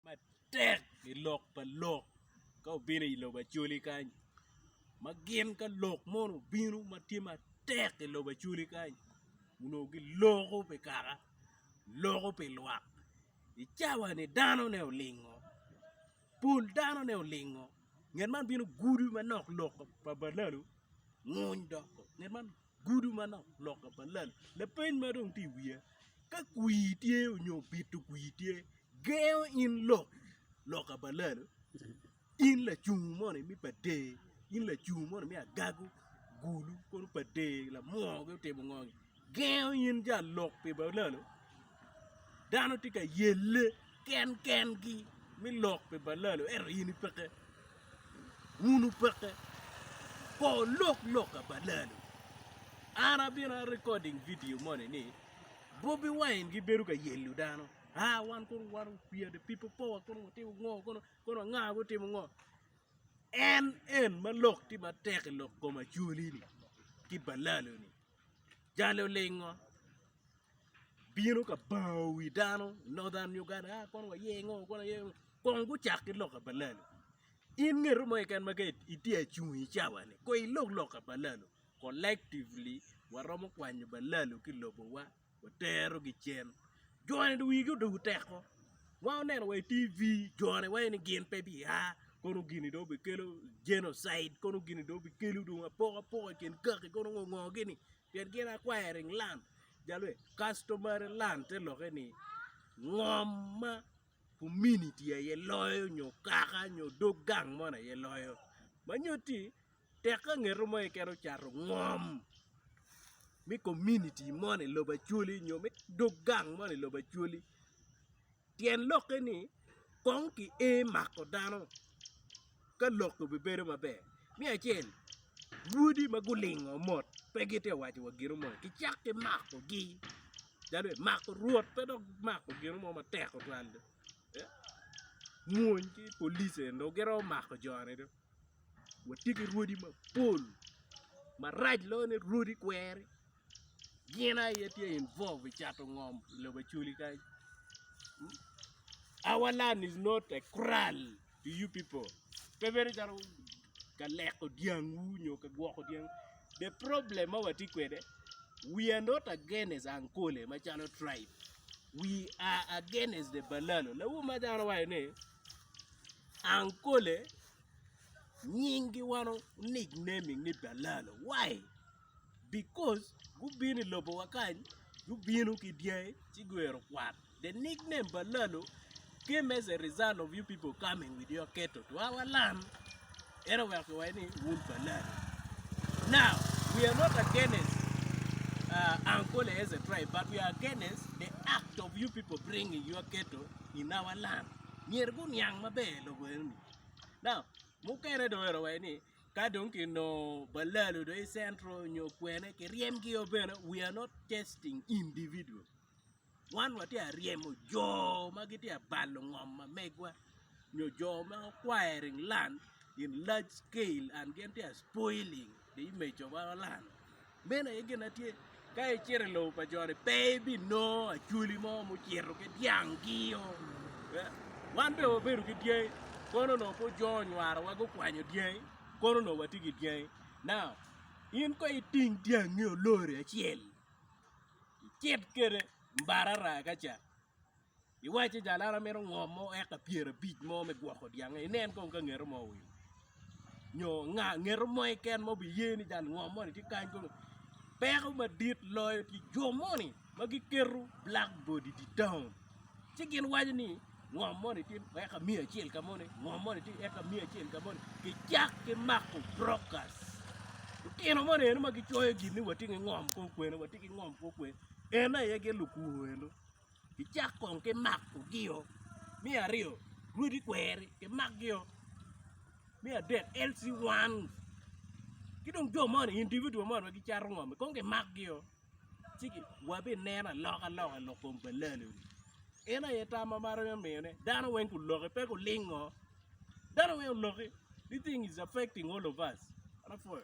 matek i lok pa lok ka obino i lobo acholi kany ma gin ka lok mono obino ma tye matek i lobo acholi kany onongo giloko pi kaka loko pi lwak i cawa-ni danone olingo pol danone olingo nget man bino gudo manok lok pa balalo nguny dok nget man Gudo manok loka pa lal lapeny ma dong tye i wiya ka kwir tye nyo bito kwir tye gengo in lok loka pa lal in lacungo moni me pa der in lacungo moni me agago gulu kono pa der lamwongo ki otimo ngo ni gengo in jang lok pi balalo. Dano tye ka yelle gen gen gi me lok pi balalo ento in ipeke wun wupeke ko lok lok ka balalo an abino a recording video moni ni bobi wine gi bedo ka yelo dano aa wan kono wan we are the people power kono watimo ngo kono kono anga gutimo ngo en en ma lok tye matek i lok kom acholi ni ki balalo ni. Jali olingo bino ka bango wi dano i Northern Uganda a kono waye ngo kono waye ngo kong gucak ki loka pa lalu in ngeto mo keken ma ka itye acung i cawani kong ilog loka pa lalu collectively waromo kwanyo balalu ki lobowa. watero gicen jone dong wigi odoko teko ma oneno wa i TV jone waci ni gin pe biya kono gini dong bikelo genocide kono gini dong bikelo dong apoko apoko i kin kaki kono ngo ngo gini pien gin acquiring land ja lweny customary land te lokke ni ngom ma community aye loyo nyo kaka nyo dog gang moni aye loyo ma nyutti Tek ka ngeto mo keken ocato ngom me kominiti mo ni i lobo Acholi nyo me dog gang mo ni i lobo Acholi tyen lokke ni kong ki ee mako dano ka lok obibedo maber. Me acel bwodi ma gulingo mot pe gitye ka waco wa gino moni kicak ki makogi calo i mako rwot pe dok mako gino mo matek tutwal dong mwony ki police eni dong giromo mako jo-ni dong. watye ki rwodi mapol marac loyo ni rwodi kweri gin aye tye involved i cato ngom i lobo Acholi kany our land is not a kral to you people pe bedo calo ka leko dyangwu nyo ka gwoko dyangwu the problem ma watye kwede we are not against Ankole macalo tribe we are against the Balalo lawote ma dano waco ni Ankole, nyingi wan onick name ni Dalalo why? Because gubino i lobo wa kany gubino ki dyangi ci guito kwat the nick name Balalo came as a result of you people coming with your cattle to our land. En oweko iwa ni, Wun pa nani? Now, we are not against uh, Uncle Eliezer tribe, but we are against the act of you people bringing your ghetto in our land. Myero guniang maber lobo enoni. Now, mukene dong ero wai ni ka dong kinongo balalo do i central nyo kwene kiryemgi o bene we are not testing individual. wan watye ka ryemo jo ma gitye ka balo ngom ma megwa nyo jo ma gukwairing lan in large scale and gin tye ka spoiling the image of our land meno aye gin ma tye ka icito i lobo pa joni pe ibinongo acholi mo ma ocito ki dyanggi o wan bene wabedo ki dyangi kono onongo pud jo onywarowa gukwanyo dyangi kono onongo watye ki dyangi now in kong iting dyangi olori acel Icit kwede barara ka ca iwacci jalana mito ngom mo eka pyera abic mo me gwoko dyange inen kong ka ngeto mo owil nyo nga ngeto mo keken ma obiye ni jal ngom moni tye kany kunu peko madit loyo tye jo moni ma giketo black board idye taun ci gin waco ni ngom moni tye eka miya acel ka moni, ngom moni tye eka miya acel ka moni. Kicak ki mako brokas. Lutino moni eno ma gicoyo gin ni watye ki ngom kor kwena, watye ki ngom kor kwena. En aye gin lukur eno. Kicak kong ki makogi-o. Me aryo, rwodi kweri, kimakgi-o. Me adek, LC1. Ki dong jo moni, individual moni ma gicato ngom-mi, kong kimakgi-o. ci wabinen alokaloka i lok kom pa Lalone. En aye tam ma marre me miyone. Dano weng guloke, pe gulingo. Dano weng oloki. This thing is affecting all of us. An apwoyo.